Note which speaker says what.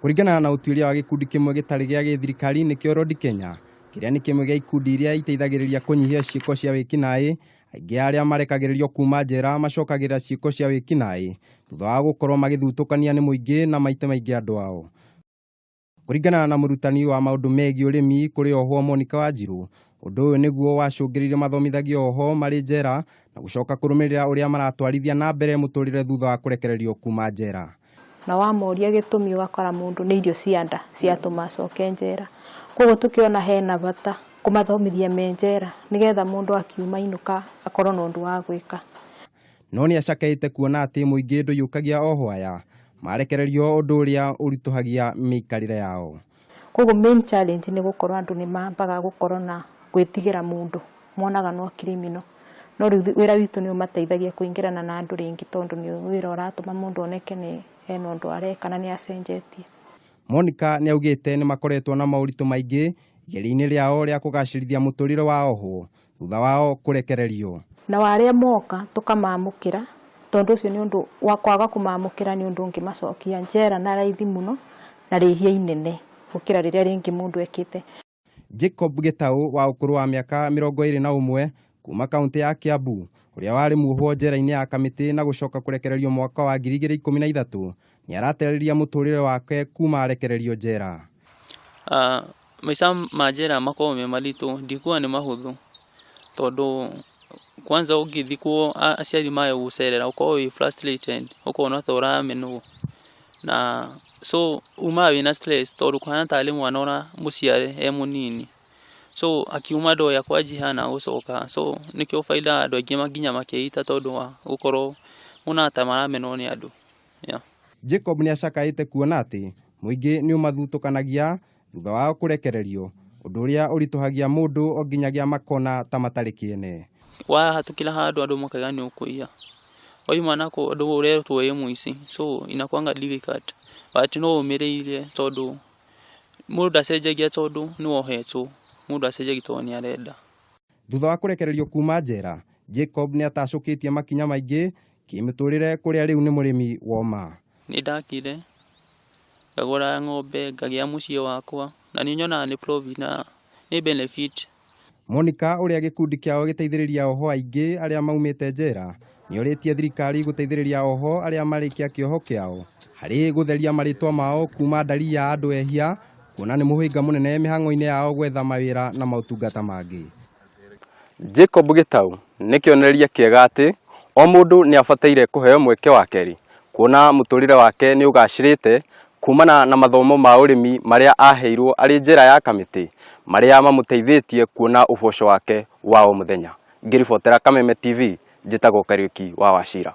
Speaker 1: Kũringana na ũtuĩria wa gĩkundi kĩmwe gĩtarĩ gĩa gĩthirikari nĩkĩo Rodi Kenya, kĩrĩa nĩ kĩmwe gĩa ikundi iria iteithagĩrĩria kũnyihia ciĩko cia wĩkinaĩ, aingĩ a arĩa marekagĩrĩrio kuuma njera macokagĩrĩra ciĩko cia wĩkinaĩ thutha wa gũkorũo magĩthutũkania nĩ mũingĩ na maita maingĩ andũ ao. Kũringana na mũrutani wa maũndũ megiĩ ũrĩmi kũrĩ ohwo Monica Wanjirũ, ũndũ ũyũ nĩguo wacũngĩrĩirie mathomithagio ohwo marĩ njera na gũcoka kũrũmĩrĩra ũrĩa maratwarithia na mbere mũtũrĩre thutha wa kũrekererio kuma njera. na wamoria gĩtũmi ũgakora mũndũ nĩ irio cia nda ciatũma acoke njera. Koguo tũkĩona hena bata kũmathomithia me njera nĩgetha mũndũ akiuma ainũka akorwo na ũndũ wa gwĩka. No nĩ acakeĩte kuona atĩ mũingĩ ndũiyũkagia o hwaya, marekererio ũndũ ũrĩa ũritũhagia mĩikarĩre yao. Koguo main challenge nĩ gũkorwo andũ nĩ mambaga gũkorwo na gwĩtigĩra mũndũ, monaga no criminal. No rĩu wĩra witũ nĩ ũmateithagia kũingĩrana na andũ rĩngĩ tondũ nĩ wĩra ũratũma mũndũ oneke nĩ hena ũndũ areka na nĩ acenjetie. Monica nĩ augĩte nĩ makoretwo na moritũ maingĩ igeria-inĩ rĩao rĩa kũgacĩrithia mũtũrĩre wa ohwo thutha wao kũrekererio. Nao arĩa mooka tũkamaamũkĩra, tondũ ũcio nĩ ũndũ wa kwaga kũmaamũkĩra nĩ ũndũ ũngĩmacokia njera na raithi mũno na rĩĩhia inene gũkĩra rĩrĩa rĩngĩ mũndũ ekĩte. Jacob Gĩtaũ wa ũkũrũ wa mĩaka mĩrongo ĩĩrĩ na ũmwe kuuma kauntĩ ya Kiambu, ũrĩa warĩ muohwo njera-inĩ ya Kamiti na gũcoka kũrekererio mwaka wa ngiri igĩrĩ ikũmi na ithatũ, nĩaratereria mũtũrĩre wake kuma arekererio njera. Ah, maica ma njera makoragwo me maritũ, ndikuga nĩ mahũthũ, tondũ kwanza ũngĩthikwo aciari mayo gũcerera ũkoragwo wĩ frustrated, ũkona ta ũramenwo, na so umaga wĩna stress tondũ kũhana tarĩ mwana ũramũciare e mũnini, so akiuma ndoĩ akwa njiha na gũcoka, so nĩkĩo ũkoraga andũ aingĩ nginya makeita tondũ wa gũkorwo monaga ta maramenwo nĩ andũ. Jacob nĩ acakaĩte kuona atĩ mũingĩ nĩ ũmathutũkanagia thutha wao kũrekererio, ũndũ ũrĩa ũritũhagia mũndũ o nginyagia makona ta matarĩ kĩene. Wahatũkĩra handũ andũ makaiga nĩ ũkũiya, waima nako andũ ũretwo wĩ mũici, so inakuanga difficult but no ũmĩrĩire tondũ mũndũ ndacenjagia tondũ nĩ wohetwo, mũndũ ndacenjagia tondũ nĩ arenda. Thutha wa kũrekererio kuuma njera, Jacob nĩ atacũkĩtie makinya maingĩ kĩmĩtũrĩre kũrĩa rĩu nĩ mũrĩmi woma. Nĩ ndakire, ngagũra ng'ombe, ngagĩa mũciĩ wakwa, na nĩ nyonaga nĩ profit na nĩ benefit. Monica ũrĩa gĩkundi kĩao gĩteithĩrĩria ohwo aingĩ arĩa maumĩte njera, Nĩorĩtie thirikari gũteithĩrĩria ohwo arĩa marĩkia kĩoho kĩao harĩ gũtheria marĩtwa mao kuuma ndari ya andũ ehia kuona nĩ mũhĩnga mũnene mĩhang'o-inĩ yao gwetha mawĩra na maũtungata mangĩ. Jacob Gitau nĩ kĩonereria kĩega atĩ o mũndũ nĩ abataire kũheo mweke wa kerĩ kuona mũtũrĩre wake nĩ ũgacĩrĩte kuumana na mathomo ma ũrĩmi marĩa aheirwo arĩ njera ya kamĩtĩ marĩa mamũteithĩtie kuona ũboco wake wa o mũthenya. Ngĩribotera Kameme TV, njĩtagwo Kariuki wa Wachira.